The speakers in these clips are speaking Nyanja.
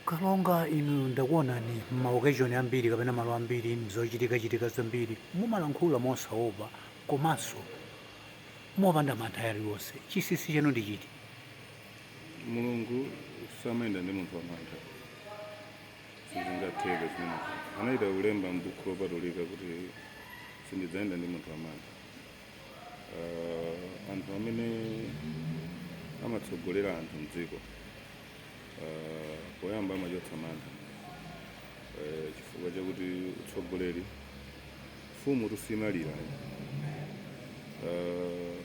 kalonga inu ndakuonani m'maokeshoni ambiri kapena malo ambiri mzochitikachitika zambiri mumalankhula mosaopa komanso mopanda mantha aliwonse chinsinsi chanu ndi chiti mulungu samayenda ndi munthu wamantha sizingatheke zimenezi anachita kulemba m'buku lopatulika kuti sindidzayenda ndi munthu wamantha uh, anthu amene amatsogolera anthu mdziko uh, poyamba amachotsa mantha uh, chifukwa chakuti utsogoleri mfumutu simalira uh,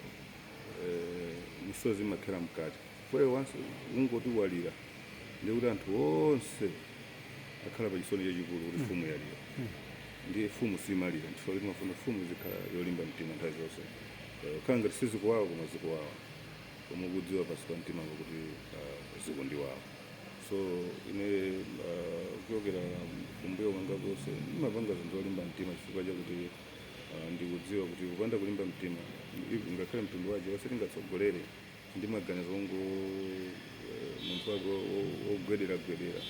uh, misozi imakhera mkati Chifukwa ukangoti walira ndiye kuti anthu onse akhala pa chisoni chachikulu kuti mfumu yalira. Ndiye mfumu simalira chifukwa choti timafuna mfumu izikhala yolimba mtima nthawi zonse. Eh, Kukhala ngati sizikuwawa koma zikuwawa. Koma ukudziwa pansi pa mtima wako kuti ah, zikundiwawa. So ine ah, kuchokera kumbuyo kwanga konse ndimapanga zinthu zolimba mtima chifukwa chakuti ah, ndikudziwa kuti kupanda kulimba mtima if- ngakhale mtundu wa Achewa sitingatsogolere ndi maganizo ongoti munthu wake wo- wo- wogwederagwedera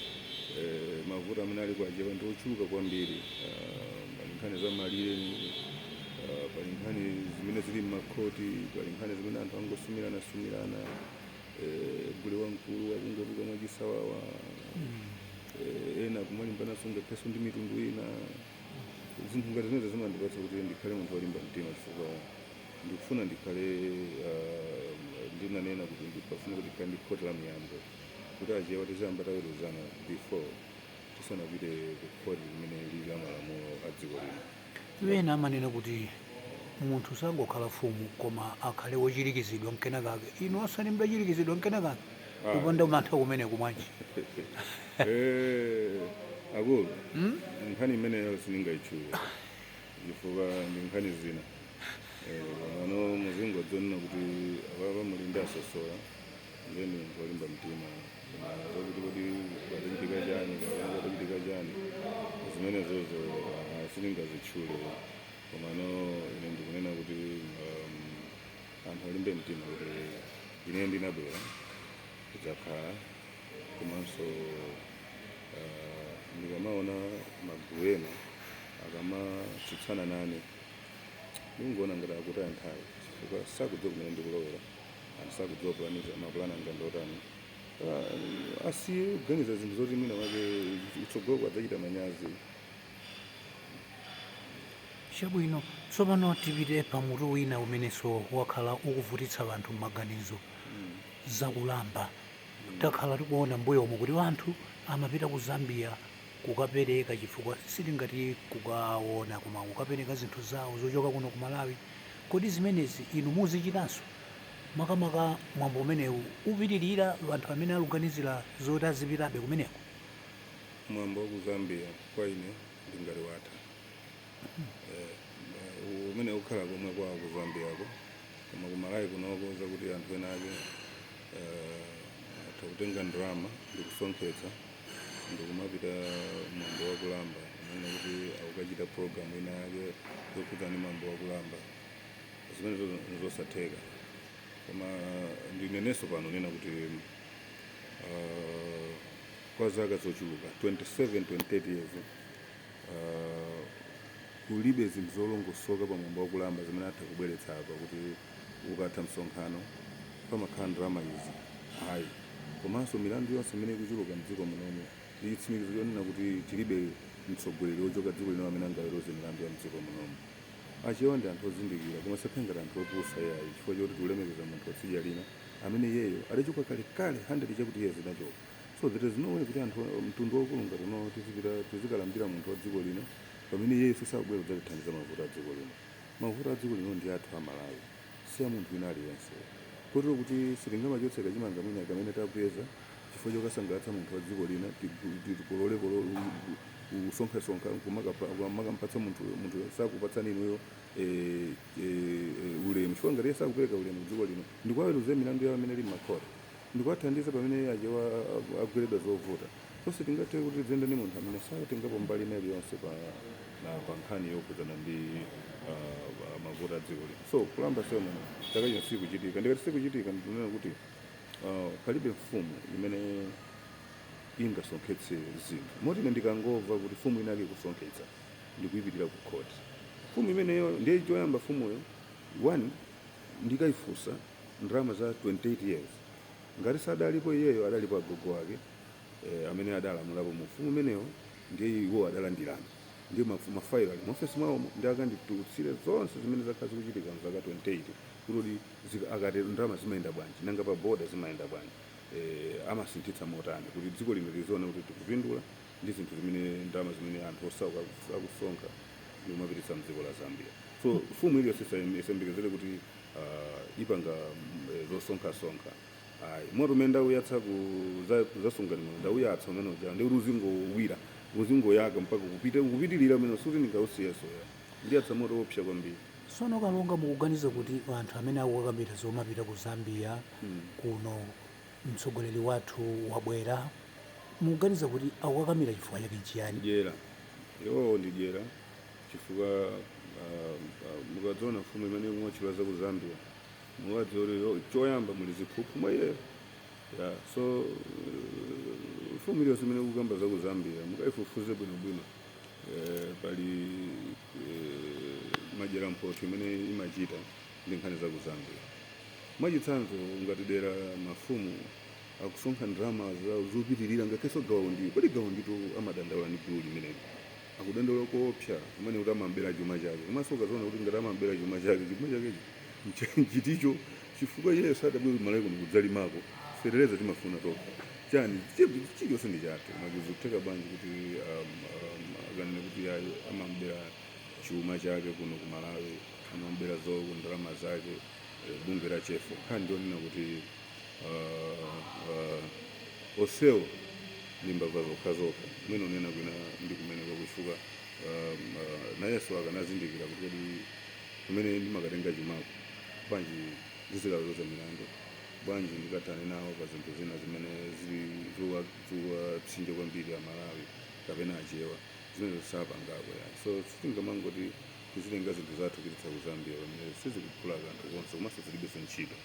Eh, mavuto amene ali kwa achewa ndi ochuluka kwambiri Ah, pali nkhani za malire ah, pali nkhani zimene zili m'makhoti pali nkhani zimene anthu angosumiranasumirana Eh, gule wamkulu akungotuluka mwachisawawa Eh, ena kumalimbananso ngakhalenso ndi mitundu ina zinthu ngati zimenezo zimandipatsa kuti ndikhale munthu wolimba mtima chifukwa ndikufuna ndikhale uh, ndinanena kuti ndikufuna kuti ndikhale ndi khoti la miyambo kuti achewa tiziyamba taweruzana before tisanapite ku khoti limene lili la malamulo a dziko lino ena amanena kuti munthu sangokhala mfumu koma akhale wochirikizidwa mwinamwake inu osati mudachirikizidwa mwinamwake Ah. kupanda mantha kumeneku bwanji Eh, akulu nkhani imeneyo sindingayitchule chifukwa ndi nkhani zina Eh, pano muzingodziona kuti apapa muli ndi a Sosola ndiye ndi munthu olimba mtima Koma zokuti kodi padachitika chani kapena padachitika chani zimenezozo ah, sindingazitchule komano ine ndikunena kuti um, anthu alimbe mtima kuti ine ndinabwera kudzakhala komanso ah, ndikamaona magulu ena akamatsutsana nane ndikungoona ngati akutaya nthawi chifukwa sakudziwa kumene ndikulowera anthu sakudziwa plan mapulani anga ndi otani Ah, asiye kuganiza zinthu zoti mwina wake kutsogoloko adzachita manyazi chabwino tsopano tipite pa mutu wina umenenso wakhala ukuvutitsa vanthu m'maganizo zakulamba takhala tikuona mbuyomu kuti vanthu amapita ku zambia kukapereka chifukwa sitingati kukaona koma kukapereka zinthu zawo zochoka kuno ku Malawi kodi zimenezi inu muzichitanso makamaka mwambo umenewu upitirira anthu amene akuganizira zoti azipitabe kumeneko mwambo wa ku zambia kwa ine ndingati watha Eh, ma- u- umene ukhala komwe kwa ku zambiako koma ku malawi kunoko zakuti anthu ena ake eh, atha kutenga ndalama ndi kusonkhetsa ndikumapita mwambo wa kulamba kumanena kuti akukachita program ina yake yokhudzana ndi mwambo wa kulamba zimenezo nzosatheka koma ndinenenso pano nena kuti ah, kwa zaka zochuluka 27 28 years ah, kulibe zinthu zolongosoka pa mwambo wa kulamba zimene atha kubweretsa apa kuti ukatha msonkhano pamakhala ndalama izi, ayi, komanso milandu yonse imene ikuchuluka mdziko munomu ndi chitsimikizo chonena kuti tilibe mtsogoleri wochoka dziko lina amene angaweruze milandu ya mdziko munomu. Achewa ndi anthu ozindikira koma asakhale ngati anthu opusa iyayi chifukwa choti tikulemekeza munthu watsidya lina amene iyeyo adachoka kalekale 100 chakuti years anachoka so there is no way kuti anthu mtundu waukulu ngati unowo tizipita tizikalambira munthu wadziko lina pamene iyeyo sakubwera kudzatithandiza mavuto adziko lino. Mavuto a dziko lino ndi athu a Malawi si a munthu wina aliyense kotero kuti sitingamachotse kachimanga mwina kamene tapeza chifukwa chokasangalatsa munthu wa dziko lina kuti tikolole kusonkhasonkha nkumakampatsa munthuyo, munthuyo sakupatsani inuyo ulemu chifukwa ngati iye sakupereka ulemu ku dziko lino ndikuwaweruzira milandu yawo imene ili m'makhoti ndikuwathandiza pamene Achewa agweredwa zovuta. So sitingathe kuti tidziyenda ndi munthu amene satengapo mbali ina iliyonse pa pa nkhani yokhudzana ndi uh, mavuto a dziko lino. So kulamba ceremony chaka chino sikuchitika, ndikati sikuchitika ndikunena kuti uh, palibe mfumu imene ingasonkhetse zinthu moti ine ndikangomva kuti mfumu inake ikusonkhetsa ndikuipitira ku khoti mfumu imeneyo ndiye choyamba mfumuyo one ndikaifunsa ndalama za 28 years ngati sadalipo iyeyo adalipo agogo ake eh, amene adalamulapo mu ufumu umenewo ndiye iwo adalandirana ndiye mafu- mafailo ali muofesi mwawomo ndi akanditulutsire zonse zimene zakhala zikuchitika mzaka 28 kuti kodi zika- akati ndalama zimayenda bwanji nanga pa boda zimayenda bwanji eh, amasinthitsa motani kuti dziko lino liziona kuti tikupindula ndi zinthu zimene ndalama zimene anthu osauka aku- akusonkha ndikumapititsa mdziko la zambia so mfumu iliyonse isayembekezere kuti ah, ipanga mm, eh, zosonkhasonkha Ayi. Moto umene ndauyatsa ku za kuzasungani moyo ndauyatsa umene uja ndi kuti uzingowira, uzingoyaka mpaka kupite kupitirira umene sikuti ndingausiyenso ya. Ndiyatsa moto woopsa kwambiri. Tsono Kalonga mukuganiza kuti anthu amene akukakamiira zomapita ku Zambia kuno mtsogoleri wathu wabwera mukuganiza kuti akukakamira chifukwa chake n'chiyani? Dyera. Iwowo ndi dyera chifukwa ah, ah, mukadziona mfumu imene mwatchula za ku Zambia. muwadziwa kuti yo- choyamba muli ziphuphu mwa iyeyo ya so uh, mfumu iliyonse imene ikukamba za ku zambia mukaifufuze bwinobwino eh, pali eh, madyera mphotho imene imachita ndi nkhani za ku zambia mwachitsanzo ngati dera mafumu akusonkha ndalama za- zopitirira ngakhalenso gawa undiyo kodi gawa unditu amadandaula ndi gulu limeneli akudandawula koopsa kumene kuti amam'bera chuma chake. Komanso ukaziona kuti ngati amam'bera chuma chake, chuma chakecho ncha- nchiticho? Chifukwa iyeyo sadabwere kumalawi kuno kudzalimako fetereza timafuna tokha chani Chi- chilichonse ndi chathu koma zikutheka bwanji kuti um, um, akanene kuti ayi amam'bera chuma chake kuno ku malawi amam'bera zo ndalama zake eh, bungwe la chefo nkhani ndiyonena kuti onsewo ndi mbava zokhazokha mwina unena kwina ndi kumene kwakuchuka um, uh, nayenso akanazindikira kuti kodi kumene ndimakatenga chumako bwanji ndizikaweruza milandu bwanji ndikathane nawo pa zinthu zina zimene zili zowapsinja kwambiri amalawi kapena achewa zimene zosapangako yani so sitingamangoti Tizitenga zinthu zathu kupititsa ku Zambia pamene sizikuphula kanthu konse komanso zilibenso ntchito.